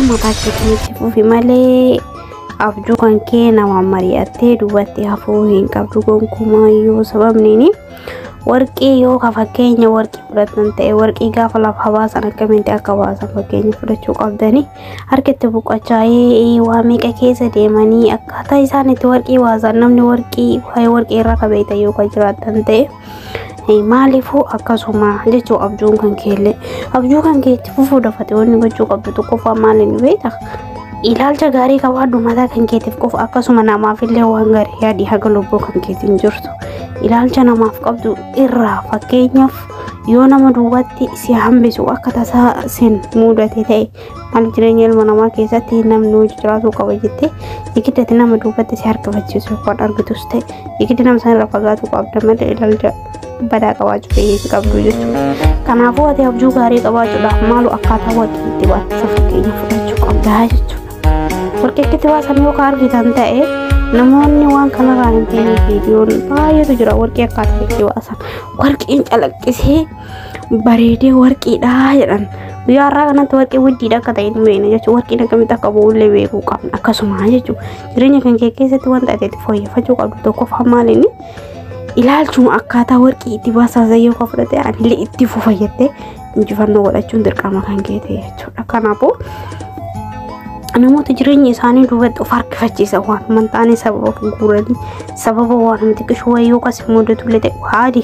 maqaa keetiin itti fufi malee abjuu kan kee nama mari'attee duubatti hafuu hin qabdu gonkumaa yoo sababniini warqii yoo ka fakkeenya warqii fudhatan ta'e warqii gaafa lafa baasan akkamitti akka baasan fakkeenya fudhachuu qabdanii harka itti buqqachaa'ee waa meeqa keessa deemanii akkaataa isaan itti warqii baasan namni warqii waa'ee warqii irra kabeeta yoo ka jiraatan ta'e. maaliifuu akkasuma jechuu abjuun kan keellee abjuu kan kee itti fufuu dafate wanni gochuu qabdu tokkoffaa maaliin beekta ilaalcha gaarii qabaadhu mataa kan keetiif qofa akkasuma namaaf illee waan gaarii yaadii haga lubbuu kan keetiin jirtu ilaalcha namaaf qabdu irraa fakkeenyaaf yoo nama duwwaatti si hambisu akka tasaa sin muudate ta'e Maal jireenya ilma namaa keessatti namni hojii jiraachuu qaba jettee igiddatti nama duubatti si harkifachiisu yookaan argitus ta'e igiddi nama sana irra fagaatuu qabda malee ilaalcha badaa qabaachuu fayyeessi qabdu jechuudha. Kanaafuu ati abjuu gaarii qabaachuudhaaf maaloo akkaataa waqii itti baatisa fakkeenya fudhachuu qabdaa jechuudha. Warqeetti baasan yoo kan argitan ta'e namoonni waan kanarraa hin beekne viidiyoon baay'eetu jira warqee akkaataa itti baasan warqeen calaqqisee bareedee warqiidha jedhan guyyaa har'aa kanatti warqii wuddiidha akka ta'e hin beekne jechuudha warqiin akkamitti akka bu'ullee beekuu qabna akkasuma jechuudha jireenya kan kee keessatti wanta ati itti fooyyeffachuu qabdu tokkoffaa maalinni ilaalchuma akkaataa warqii itti baasaa zayyoo kan fudhate anillee itti fufayyattee injifannoo godhachuun dirqama kan kee ta'e jechuudha kanaafuu namoota jireenya isaanii duubatti of harkifachiisa waan mantaanii sababa guuranii sababa waan xiqqishuu wayii yookaas immoo dutullee ta'e waadi